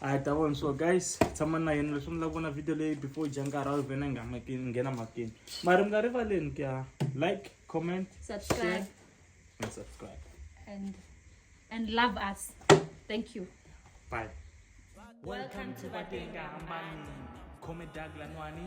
hayi ta vona so guys tshama na yena leswi mi lava vona video leyi before dya nkarhi a vhena nga makini nghena makini mara mi nga rivaleni ku ya like comment subscribe share, and subscribe and and love us thank you bye welcome to vatenga hambani khome dag lanwani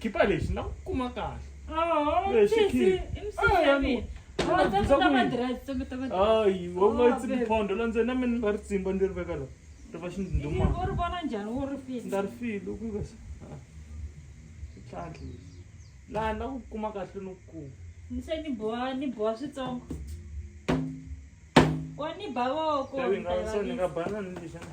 khipa lexi na ku kuma kahle ayi wa nga tsi phondo la ndzeni na mina ni nga ri tsimba ndzi ri veka la ri va xindumandza ri file ku ka switlhandli laha na ku kuma kahle no kuma ni se ni boha ni boha switsongo wa ni bavoko ni nga banani lexana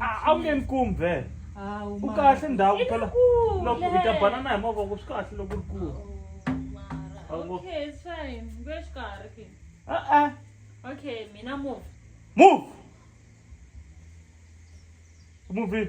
a wu nge ni kumi vhele u kahle ndhawu phela loko hi ta banana hi mavoko swi kahle loko ri kulu e-e okay mina move move move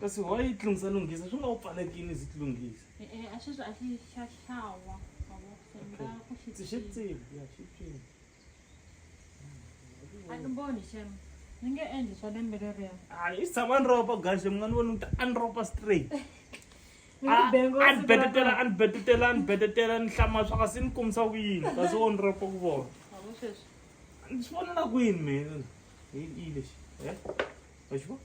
kasi why yi tlungisa lunghisa swi nga wu pfalekini zi tlunghisa e, e, a sweswi a xi xa hlawa ndzi xi tsivi ya xi tsivi a ni voni xem ni nge endli swa lembe leriya a yi tshama ni ropa gaxe mun'wana voni ni ta a ni ropa straight anibedetela anibedetela anibedetela ni hlama swa kasi ni kumisa ku yini kasi wo ni ropa ku vona ni swi vonela kwini mina hi lexi e wa xi vona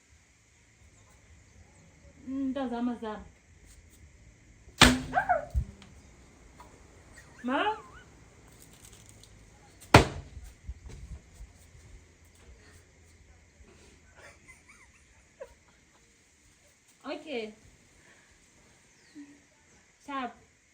Mtazama zama. Ma? Okay. Sharp.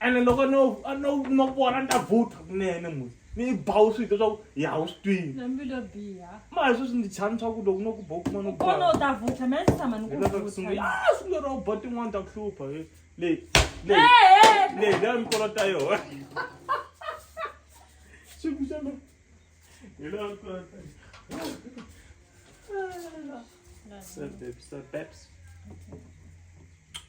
ene loko no no no vona ni ta vutha kunene n'wi ni yi bawu swi hita swaku ya wu swi twini nambilo biha ma hi sweswi ndzi chani swaku loko no ku bawu kuma no kona u ta vutha mina ndzi tshama ni ku vutha sungula ro ba tin'wana ta ku hlupha leyi leyi leyi leyi mi kolota yona xiku xa mina hi leyi mi kolota yona sir babes sir babes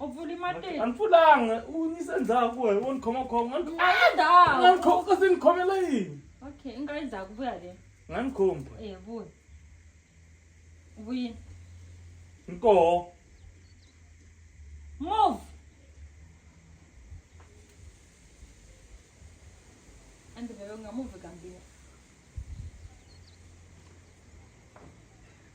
U pfuli matihlo. A ni pfulanga, u yingise ndzhaku wena, wo ni khomakhoma. Nga ni khoma- Nga ndzhaku. Nga ni khoma, kasi ni khomela yini? Okay, i nga ndzhaku vuya le. Nga ni khoma. Eh, vuya. Vuyini. Ni koho. Move. A ndzi vele u nga move kambirhi.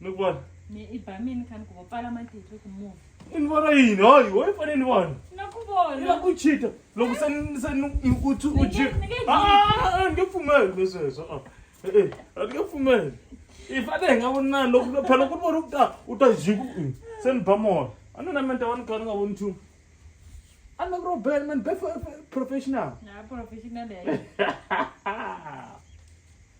ni vona ni i ba mini kani ku vo pfala matihlo ku move ni vona yini hayi wo ni fanele ni vona na ku vona ya ku chita loko se ni se ni ni ku tsu u ji a ni pfumeli ni sweswo a eh a ni pfumeli i fane hi nga vona loko ni phela ku vona u ta u ta ji ku se ni ba mona a ni na mente wa ni kha ni nga voni nchumu a ni ku ro bela man be professional na professional ya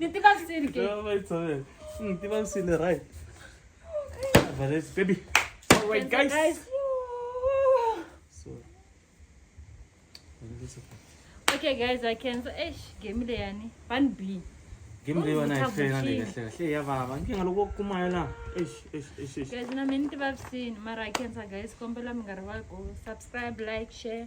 Niti ba sini ke? Ba ba tsone. Niti ba sini right. But it's baby. All right guys. guys. So. Okay guys, I can so eish game le yani. Ban B. Game le yona e fela le kahle kahle ya baba. Nkinga loko kumayo la. Eish eish eish eish. Guys, na mini ti ba sini mara I can sa guys kombela mi nga rivali ku subscribe, like, share.